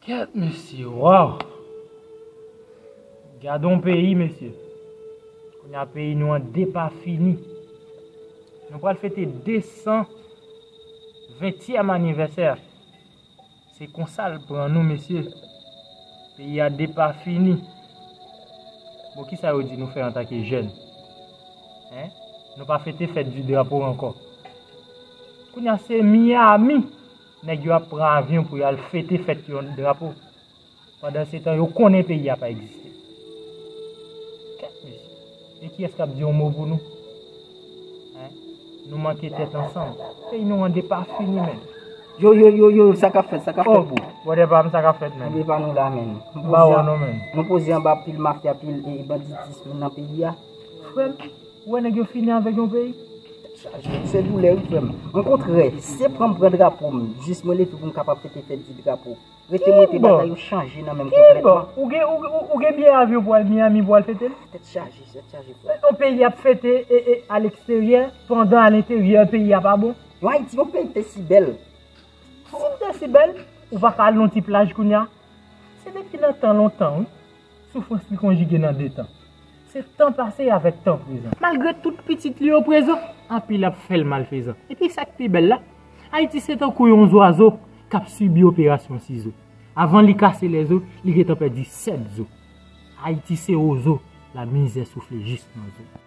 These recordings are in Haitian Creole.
Kèt mesye waw. Gadon peyi mesye. Kounye a peyi nou an depafini. Nou pral fete 200 20èm anivèsè. Se konsa l pran nou mesye. Peyi a depafini. Bon kisa yo di nou fè antake jèn. Hein? Nou pa fete fèt di drapo ankò. Kounye a se Miami. Nèg yo ap pran avyon pou yo al fete fèt yon drapo. Pandansetan yo konnen peyi a pa egziste. Kèt mesye. E kiyès k ap di yon mo pou nou? Hein? Nou manke tèt ansanm. Peyi nou an depafini menn. Yo yo yo yo sa k ap fèt sa k ap fèt bro? Oh brother pa m sa k ap fèt menn? Kenbe pa nou la menn. M pa wè w non menn. Nou poze anba pil mafya pil banditism nan peyi a. Frè m. Ou wè nèg yo fini avèk yon peyi. Se doulè wi frèm. Mwen kont rè. Se pranm pran drapo m. Jis mwen leve pou m kapab fete fèt di drapo. Rete mwen te bagay yo chanje nan menm konpletman. Kibo! Ou gen biyè avyon pou al Miami pou al fete l? Tèt chaje, tèt chaje frèm. Yon peyi ap fete a leksteryè pandan a lenteryè peyi a pa bon? Yon Ayiti, yon peyi k te si bèl. Si l te si bèl, ou pa ka al yon ti plaj kounya? Se depi nan tan lontan wi. Soufrans li konjige nan de tan. Se tan pase avèk tan prezan. Malgre tout pitit li yo prezan. Anpil ap fè l malfezan. Epi sa k pi bèl la, Ayiti se tankou yon zwazo k ap sibi operasyon sizo. Avan li kase lèzo, li gentan pèdi sèt zo. Ayiti se wozo, lamizè soufle jis nan zo.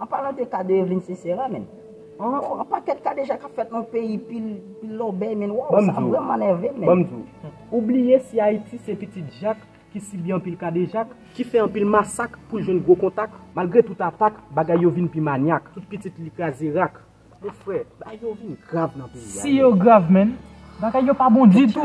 An palan de ka de Evelyne Sisera menn. Yon pakèt kadejak ap fèt nan peyi pil lòbèy menn waww sa vrèman nèvem menn. Banm diw, ou bliye si Ayiti se pitit Jak ki sibi anpil kadejak, ki fè anpil masak poul jwenn gwo kontak, malgre tout atak bagay yo vin pi manyak, tout pitit li kraze rak, mon frè bagay yo vin grav nan peyi a. Si yo grav menn, bagay yo pa bon ditou.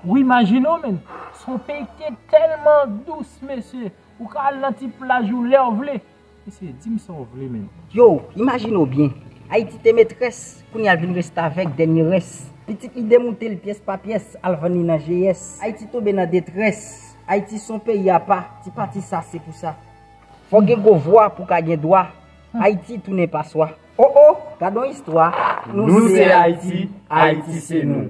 Ou imajinew menn, son peyi ki te tèlman dous mesye, ou ka al nan ti plaj ou lèw vle, Mesye, di m sa w vle menm. Yow, imajine w byen. Ayiti te metrès, kounye a l vin restavèk, dènye rès. Pitit li demoute l pyès pa pyès, al vann li nan GS. Ayiti tonbe nan detrès. Ayiti s on peyi apa, ti pati sa se pou sa. Fò w gen gwo vwa pou w ka gen dwa, Ayiti tounen paswa. O o, gad on istwa, nou se Ayiti, Ayiti se nou.